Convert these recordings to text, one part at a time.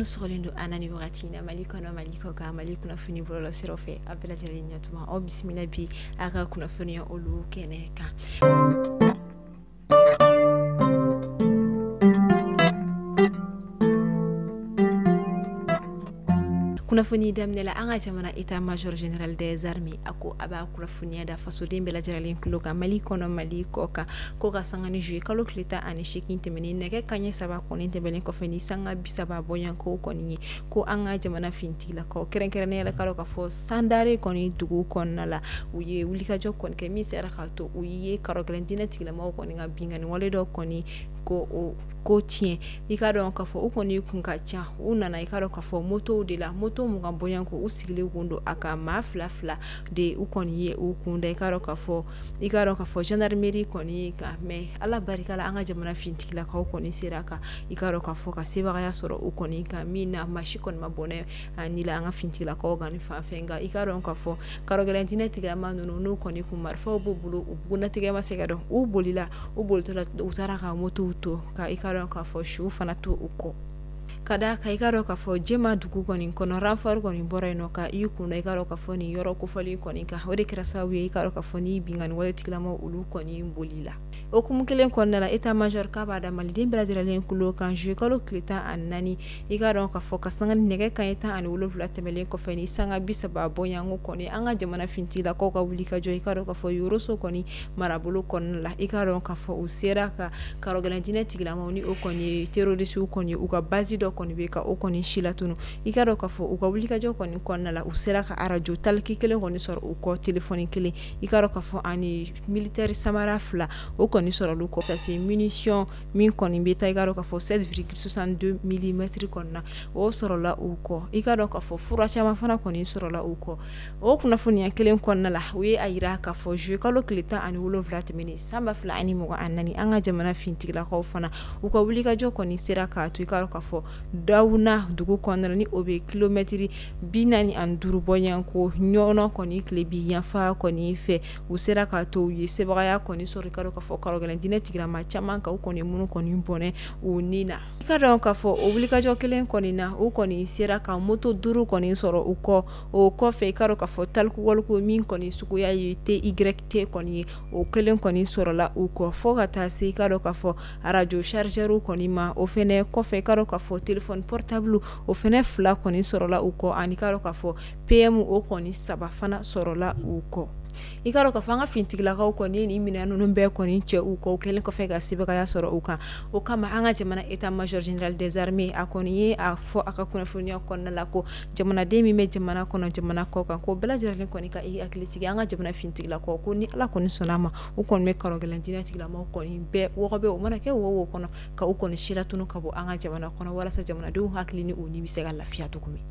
minnu sɔgɔlen don an na ni wagati in na mali kɔnɔ mali kɔ kan mali kunnafoni bɔlɔlɔ siraw fɛ a bɛɛ lajɛlen ɲɛtuma aw bisimila bi a ka kunnafoniya olu kɛnɛ kan kunnafoni daminɛ la an ka jamana état major général des armées a ko a b'a kunnafoniya da fasoden bɛɛ lajɛrɛlen tulo kan mali kɔnɔ mali kɔ kan ko ka sanga ni zuye kalo tile tan ani seegin tɛmɛnen nɛgɛ kanɲɛ saba kɔni tɛmɛnen kɔfɛ ni sanga bisaba bɔɲɔgɔnko kɔni ye ko an ka jamana fintigilakaw kɛrɛnkɛrɛnnenya la k'a dɔn k'a fɔ sandare kɔni dugu kɔnɔna la u ye wulikajɔ kɔni kɛ min sera k'a to u ye karɔgɛlɛn diinɛ tigilamaw kɔni ka binkanni wale dɔ kɔni ko o ko tiɲɛ i k'a dɔn k'a fɔ u kɔni kun ka ca u nana i k'a dɔn k'a fɔ motow de la moto mugan bɔɲɔgɔnko u sigilen kun don a kan maa fila fila de u kɔni ye u kunda i k'a dɔn k'a fɔ i k'a dɔn k'a fɔ gendarmerie kɔni kan mɛ ala barika la an ka jamana fintigilakaw kɔni sera ka i k'a dɔn k'a fɔ ka sebagaya sɔrɔ u kɔni kan min na maa si kɔni ma bɔnɛ a ni la an ka fintigilakaw kɔni fanfɛ nka i k'a dɔn k'a fɔ karɔgɛlɛn diinɛ tigilama ninnu n'u kɔni kun marifaw b'u bolo u bugunnatigɛ ma se ka dɔn u bolila u bolitɔla u taara ka motow to ka i k'a dɔn k'a fɔ su fana to u kɔ ka d'a kan i k'a dɔn k'a fɔ jɛma dugu kɔni kɔnɔ renfort kɔni bɔra yen ka i kunda i k'a dɔn k'a fɔ nin yɔrɔ kofɔlen kɔni kan o de kɛra sababu ye i k'a dɔn k'a fɔ nin binkanni wale tigilama olu kɔni boli la o hukumu kelen kɔnɔna la état major k'a b'a da maliden bɛɛ lajɛrɛlen kulo kan zuye kalo tile tan ani naani i k'a dɔn k'a fɔ ka sanga ni nɛgɛ kanɲɛ tan ani wolowula tɛmɛnlen kɔfɛ ni sanga bi saba bɔɲɔgɔnko kɔni an ka jamana fintigilakaw ka wulikajɔ i k'a dɔn k'a fɔ yɔrɔso kɔni marabolo kɔnɔna la i k'a dɔn k'a fɔ u sera ka karɔgɛlɛn diinɛ tigilamaw ni o kɔni ye terorisiw kɔni u ka bazi dɔ kɔni bɛ ka o kɔni si latunun i k'a dɔn k'a fɔ u ka wulikajɔ kɔni kɔnɔna la u sera ka arajo talki kelen kɔni sɔrɔ u kɔ telefɔni kelen i k'a dɔn k'a fɔ ani militeri samara fila o kɔni sɔrɔla u kɔ ka se minisiyɔn min kɔni bɛ taa i k'a dɔn k'a fɔ sept virgule soixante deux milimɛtiri kɔnɔna o sɔrɔla u kɔ i k'a dɔn k'a fɔ fura caman fana kɔni sɔrɔla u kɔ o kunnafoniya kelen kɔnɔna la u ye a yira k'a fɔ zuye kalo tile tan ani wolonwula tɛmɛnen san ba fila ani mugan ni naani an ka jamana fintigilakaw fana u ka wulikajɔ kɔni sera k'a to i k'a dɔn k'a fɔ dawuna dugu kɔnɔna ni o bɛ kilomɛtiri bi naani ani duuru bɔɲɔgɔnko ɲɔnɔ kɔni tilebin yanfan kɔni fɛ u sera k'a to u ye sebaaya kɔni sɔrɔ i k'a dɔn k'a fɔ karɔgɛlɛn diinɛ tigilama caman kan u kɔni minnu kɔni bɔnɛ u ni na i k'a dɔn k'a fɔ o wulikajɔ kelen kɔni na u kɔni sera ka moto duuru kɔni sɔrɔ u kɔ o kɔfɛ i ka dɔn k'a fɔ talkie-walkie min kɔni suguya ye T Y T kɔni ye, o kelen kɔni sɔrɔla u kɔ fo ka taa se i ka dɔn k'a fɔ arajo chargeur kɔni ma, o fana kɔfɛ i ka dɔn k'a fɔ téléphone portable o fana fila kɔni sɔrɔla u kɔ ani i ka dɔn k'a fɔ PM o kɔni saba fana sɔrɔla u kɔ. I ka dɔn k'a fɔ an ka finitigilakaw kɔni ye nin minɛn ninnu bɛɛ kɔni cɛ u kɔ, u kɛlen kɔfɛ ka sebagaya sɔrɔ u kan, o kama an ka jamana état major général des armées a kɔni ye a fɔ a ka kunnafoniyaw kɔnɔna la ko jamanaden min bɛ jamana kɔnɔ jamana kɔ kan ko bɛɛ lajɛlen kɔni ka i hakili sigi an ka jamana finitigilakaw ko ni ala kɔni sɔnna a ma u kɔni bɛ karɔgɛlɛn diinɛtigilamaw kɔni bɛɛ wɔgɔbɛ u mana kɛ wo o wo kɔnɔ ka u kɔni silatunu ka bɔ an ka jamana kɔnɔ walasa jamanadenw hakili ni u ni bɛ se ka lafiya cogo min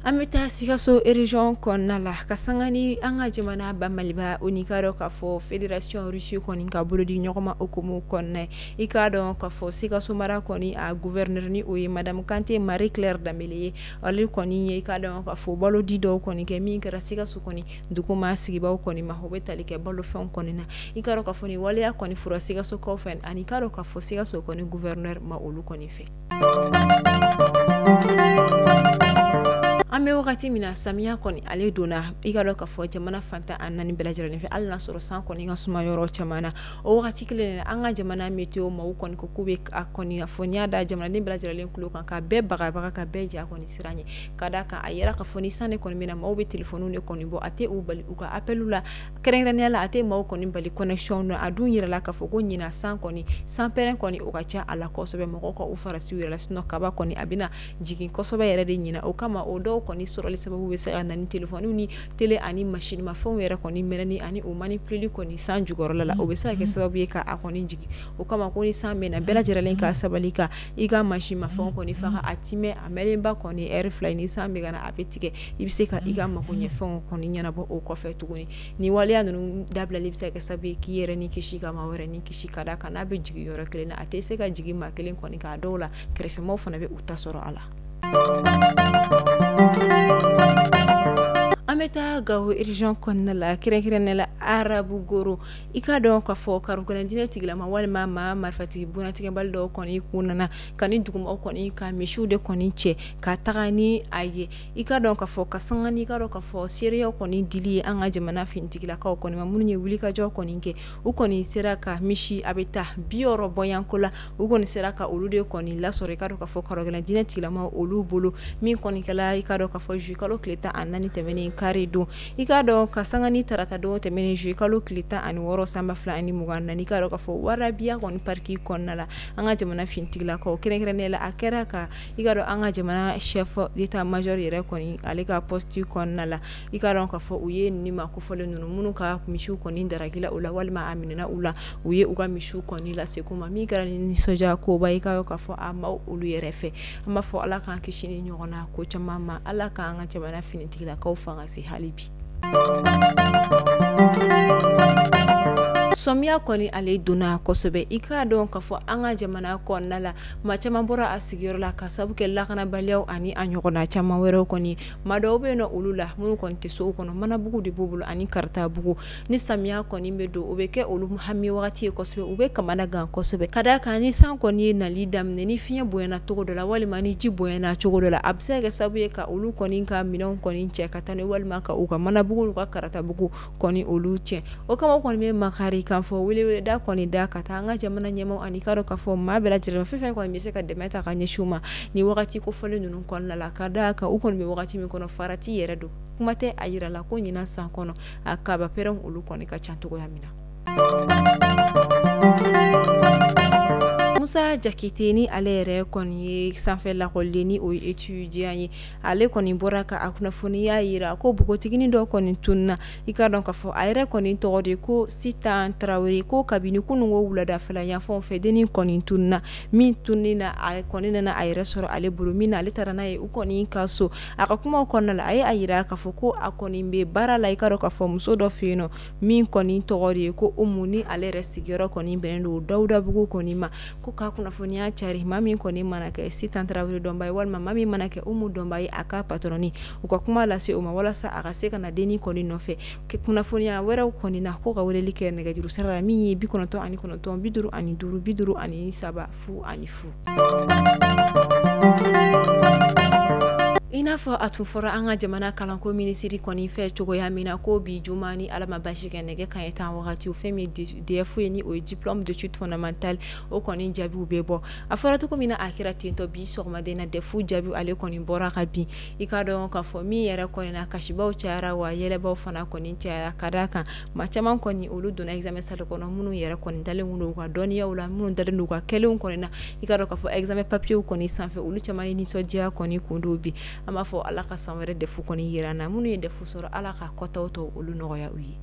an bɛ taa sikaso région kɔnɔna la ka sanga ni an ka jamana ba maliba o ni i ka dɔn k'a fɔ fédération Russie kɔni ka bolodiɲɔgɔnma o hukumu kɔnɔna ye i k'a dɔn k'a fɔ sikaso mara kɔni a gouverneur ni o ye madamu kante marie claire dembele ye ale kɔni ye i ka dɔn k'a fɔ balo di dɔw kɔni kɛ min kɛra sikaso kɔni duguma sigibaaw kɔni ma o bɛ tali kɛ balofɛn kɔni na i ka dɔn k'a fɔ nin waleya kɔni fora sikasokaw fɛ ani i ka dɔn k'a fɔ sikaso kɔni gouverneur ma olu kɔni fɛ an bɛ wagati min na samiya kɔni ale donna i ka dɔn k'a fɔ jamana fan tan ni naani bɛɛ lajɛlen fɛ hali n'a sɔrɔ san kɔni ka suma yɔrɔ caman na o wagati kelen an ka jamana météo maaw kɔni ko u bɛ a kɔni fɔ n y'a da jamanaden bɛɛ lajɛlen tulo kan ka bɛɛ bagabaga ka bɛɛ ja kɔni siran ye k'a da kan a yera k'a fɔ ni san de kɔni bɛ na maaw bɛ téléphone de kɔni bɔ a tɛ u bali u ka appel la kɛrɛnkɛrɛnnenya la a tɛ maaw kɔni bali connexion na a dun yirala k'a fɔ ko ɲinan san kɔni sanpɛrɛn kɔni o ka ca a la kosɛbɛ mɔgɔw ka u farati u yɛrɛ la sinon kaba kɔni a bɛna jigin kosɛbɛ yɛrɛ de ɲinan o kama o dɔw kɔni sɔrɔli sababu bɛ se ka na ni téléphone ni tele ani masinmafɛnw yɛrɛ kɔni mɛnɛni ani u manipuléli kɔni san jukɔrɔla la o bɛ se ka kɛ sababu ye k'a kɔni jigin o kama ko ni san bɛ na bɛɛ lajɛlen ka sabali ka i ka masinmafɛnw kɔni faga a tɛ mɛn a mɛnnenba kɔni heure fila ni san bɛ ka na a bɛ tigɛ i bɛ se ka i ka mago ɲɛfɛnw kɔni ɲɛnabɔ o kɔfɛ tuguni ni waleya ninnu dabilali bɛ se ka kɛ sababu ye k'i yɛrɛ ni kisi ka maa wɛrɛ ni kisi k'a da kan n'a bɛ jigin yɔrɔ kelen na a tɛ se ka jigin maa kelen kɔni k'a dɔw la kɛrɛfɛmaaw fana bɛ u ta sɔrɔ a la an bɛ taa gao région kɔnɔna la kɛrɛnkɛrɛnnenya la arabukoro i ka dɔn k'a fɔ karɔgɛlɛn diinɛtigilama walima maa marifatigi bugunnatigɛbali dɔw kɔni k'u nana ka nin dugumaaw kɔni ka misiw de kɔni cɛ ka taga ni a ye i ka dɔn k'a fɔ ka sanga ni i ka dɔn k'a fɔ seereyaw kɔni dili ye an ka jamana finitigilakaw kɔni ma minnu ye wulikajɔ kɔni kɛ u kɔni sera ka misi a bɛ taa bi wɔɔrɔ bɔyanko la u kɔni sera ka olu de kɔni lasɔrɔ i ka dɔn ka fɔ karogɛlɛn diinɛ tigilama olu bolo min kɔni kɛra i ka dɔn ka fɔ zuwɛn kalo tile tan ani naani tɛmɛnen kari don i k'a dɔn ka sanga ni tarata don tɛmɛnen zuwɛn kalo tile tan ani wɔɔrɔ san ba fila ani mugan na i ka dɔn ka fɔ warabiya kɔni pariki kɔnɔna la an ka jamana finitigilakaw kɛrɛnkɛrɛnnen la a kɛra ka i ka dɔn an ka jamana chef d'état major yɛrɛ kɔni ale ka pɔsiti kɔnɔna la i ka dɔn ka fɔ u ye nin maa kofɔlen ninnu minnu ka misiw kɔni darakila u la walima a minɛna u la u ye u ka misiw kɔni lase u ma min kɛra ni nisɔndiya koba i ka dɔn ka fɔ a maa olu yɛrɛ fɛ an b'a fɔ ala k'an kisi nin ɲɔgɔnna ko caman ma ala k'an ka jamana finitigilakaw fanga se hali bi samiya kɔni ale donna kosɛbɛ i k'a dɔn k'a fɔ an ka jamana kɔnɔna la maa caman bɔra a sigiyɔrɔ la ka sabu kɛ lakanabaliya ani a ɲɔgɔnna caman wɛrɛw kɔni maa dɔw bɛ nɔ olu la minnu kɔni tɛ so kɔnɔ manabugu de b'u bolo ani karatabugu ni samiya kɔni bɛ don o bɛ kɛ olu hami wagati ye kosɛbɛ u bɛ kamana gan kosɛbɛ ka da kan ni san kɔni ye nali daminɛ ni fiɲɛ bonyana cogo dɔ la walima ni ji bonyana cogo dɔ la a bɛ se ka kɛ sabu ye ka olu kɔni ka minɛnw kɔni cɛ ka taa n'a ye walima ka u ka manabugu n'u ka karatabugu kɔni olu cɛn o kama an kɔni bɛ makari kan fɔ welewele da kɔni da ka taa an ka jamana ɲɛmaaw ani i ka dɔn ka fɔ maa bɛɛ lajɛlen ma fɛn o fɛn kɔni bɛ se ka dɛmɛ ta ka ɲɛsin u ma nin wagati kofɔlen ninnu kɔnɔna la ka da kan u kɔni bɛ wagati min kɔnɔ farati yɛrɛ don kuma tɛ a jirala ko ɲinan san kɔnɔ a kabapɛrɛnw olu kɔni ka ca cogoya min na musa jakite ni ale yɛrɛ kɔni ye sanfɛ lakɔliden ni o ye etudiya ye ale kɔni bɔra ka a kunnafoniya jira ko npogotigini dɔ kɔni tununna i ka dɔn k'a fɔ a yɛrɛ kɔni tɔgɔ de ko sitan tarawele ko kabini kunun ko wuladafɛla yanfanw fɛ dennin kɔni tununna min tununnen na a kɔni nana a yɛrɛ sɔrɔ ale bolo min na ale taara n'a ye u kɔni ka so a ka kumaw kɔnɔna la a ye a jira k'a fɔ ko a kɔni bɛ baara la i ka dɔn k'a fɔ muso dɔ fɛ yen nɔ min kɔni tɔgɔ de ye ko Umu ni ale yɛrɛ sigiyɔrɔ kɔni bɛnnen don Dawudabugu kɔni ma ko k'a kunnafoniya cari maa min kɔni mana kɛ sitan tarawele dɔnba ye walima maa min mana kɛ umu dɔnba ye a ka patɔrɔni u ka kuma lase o ma walasa a ka se ka na dennin kɔni nɔfɛ kunnafoniya wɛrɛw kɔni na ko ka weleli kɛ nɛgɛjuru sira la min ye bi kɔnɔntɔn ani kɔnɔntɔn bi duuru ani duuru bi duuru ani saba fu ani fu i n'a fɔ a tun fɔra an ka jamana kalanko minisiri kɔni fɛ cogoya min na ko bi juma ni ala ma basi kɛ nɛgɛ kanɲɛ tan wagati o fɛn min DEF ye ni o ye diplôme d'études fondamentales o kɔni jaabiw bɛ bɔ a fɔra cogo min na a kɛra tentɔ bi sɔgɔmada in na DEF jaabiw ale kɔni bɔra ka bin i k'a dɔn k'a fɔ min yɛrɛ kɔni na kasibaw cayara wa yɛlɛbaw fana kɔni cayara ka d'a kan maa caman kɔni olu donna examen salle kɔnɔ minnu yɛrɛ kɔni dalen kun don u ka dɔnniyaw la minnu dalen don u ka kɛlenw kɔni na i k'a dɔn k'a fɔ examen papiers kɔni sanfɛ olu caman ye nisɔndiya kɔni kun don bi an b'a fɔ Ala ka san wɛrɛ DEF kɔni jira an na minnu ye DEF sɔrɔ Ala ka kɔtaw tɔ olu nɔgɔya u ye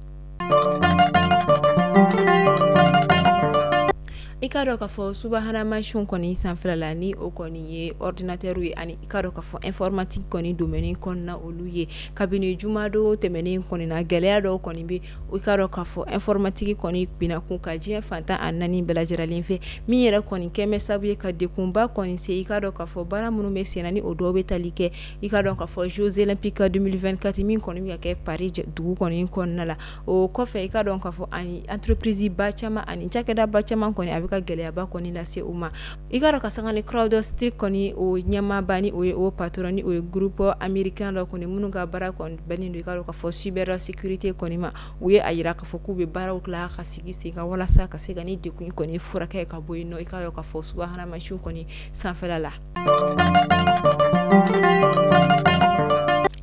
i kaa dɔn ka fɔ subahana mansinw kɔni sanfɛla la ni o kɔni ye ordinateur ye ani i kaa dɔn ka fɔ informatique kɔni domaine kɔnɔna na olu ye kabini jumadon tɛmɛnen kɔni na gɛlɛya dɔw kɔni bɛ i kaa dɔn ka fɔ informatique kɔni binna kun kan diɲɛ fan tan a naani bɛɛ lajɛlen fɛ min yɛrɛ kɔni kɛmɛ sabu ye ka degunba kɔni se i kaa dɔn ka fɔ baara minnu bɛ sen na ni o dɔw bɛ tali kɛ i ka dɔn ka fɔ Jeux olympiques 2024 min kɔni ka kɛ Paris dugu kɔni kɔnɔna la o kɔfɛ i ka dɔn ka fɔ ani entreprise ba caman ani cakɛda ba caman kɔni a bɛ ka gɛlɛyaba kɔni lase u ma i ka dɔn ka sanga ni CrowdStrike kɔni o ɲɛmaaba ni o ye o patron ni o ye groupe américain dɔ kɔni minnu ka baara kɔni bɛnnen don i ka dɔn ka fɔ cybersécurité kɔni ma u ye a jira k'a fɔ k'u bɛ baaraw tila ka sigi sen kan walasa ka se ka nin degun kɔni furakɛ ka bɔ yen nɔ i ka dɔn ka fɔ subahana mansinw kɔni sanfɛ la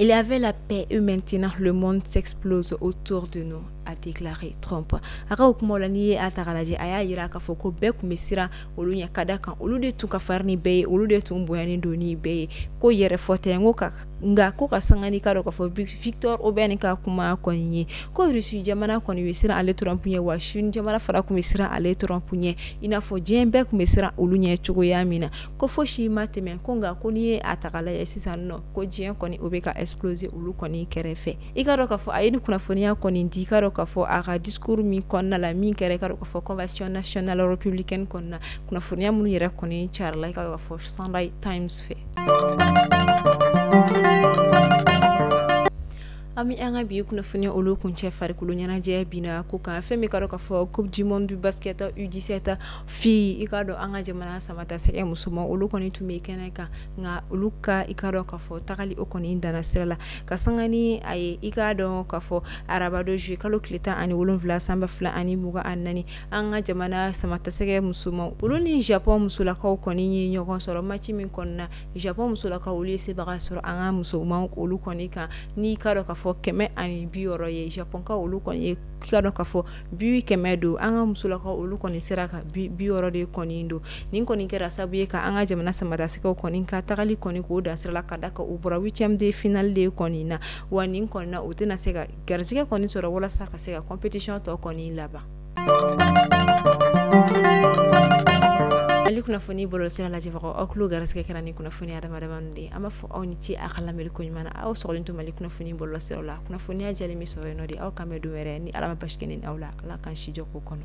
Il y avait la paix et maintenant le monde s'explose autour de nous a déclaré Trump a ka o kumaw la n'i ye a ta k'a lajɛ a y'a jira k'a fɔ ko bɛɛ kun bɛ siran olu ɲɛ ka da kan olu de tun ka farin ni bɛɛ ye olu de tun bonyalen don ni bɛɛ ye ko yɛrɛfɔ tɛ n ko ka nka ko ka sanga n'i ka dɔn ka fɔ Viktor Orban ka kuma kɔni ye ko Russie jamana kɔni bɛ siran ale Trump ɲɛ wa Chine jamana fana kun bɛ siran ale Trump ɲɛ i n'a fɔ diɲɛ bɛɛ kun bɛ siran olu ɲɛ cogoya min na ko fosi ma tɛmɛ ko nka ko n'i ye a ta k'a lajɛ sisan nɔ ko diɲɛ kɔni o bɛ ka exploser olu kɔni kɛrɛfɛ i kaa dɔn k'a fɔ a ye ni kunnafoniya kɔni di i kaa dɔn k'a fɔ a ka discours min kɔnɔna la min kɛra i ka dɔn ka fɔ convention nationale républicaine kɔnɔna na kunnafoniya minnu yɛrɛ kɔni carila i ka dɔn ka fɔ Sunday Times fɛ an bɛ an ka bi kunnafoniya olu kuncɛ farikolo ɲɛnajɛ bin na ko kan fɛn min i ka dɔn ka fɔ coupe du monde basket U dix-sept filles i kaa dɔn an ka jamana samatasɛgɛ musoman olu kɔni tun bɛ kɛnɛ kan nka olu ka i kaa dɔn ka fɔ tagali o kɔni danna sira la ka sanga ni a ye i k'a dɔn ka fɔ arabadon juillet kalo tile tan ani wolonwula san ba fila ani mugan ani naani an ka jamana samatasɛgɛ musoman olu ni Japon musolakaw kɔni ye ɲɔgɔn sɔrɔ maci min kɔnɔna na Japon musolakaw olu ye sebaga sɔrɔ an ka musoman olu kɔni kan n'i kaa dɔn ka fɔ kɛmɛ ani bi wɔɔrɔ ye Japonka olu kɔni ye ka dɔn ka fɔ bi kɛmɛ don an ka musolakaw olu kɔni sera ka bi wɔɔrɔ de kɔni don nin kɔni kɛra sabu ye ka an ka jamana samatasɛgɛ kɔni ka tagali kɔni k'o dan sira la ka da kan u bɔra huitième de finale de kɔni na wa nin kɔni na u tɛna se ka garisɛgɛ kɔni sɔrɔ walasa ka se ka compétition tɔ kɔni laban Mali kunnafoni bɔlɔlɔ sira lajɛbagaw aw tulo garisɛgɛ kɛra ni kunnafoni aw ni ce a ka lamɛnli ko ɲuman na aw sɔgɔlen to Mali kunnafoni bɔlɔlɔ sira la kunnafoniya jɛlen bɛ sɔrɔ yen nɔ de aw k'an bɛn don wɛrɛ ni ala ma basi kɛ ne ni aw la ala k'an si jɔ ko kɔnɔ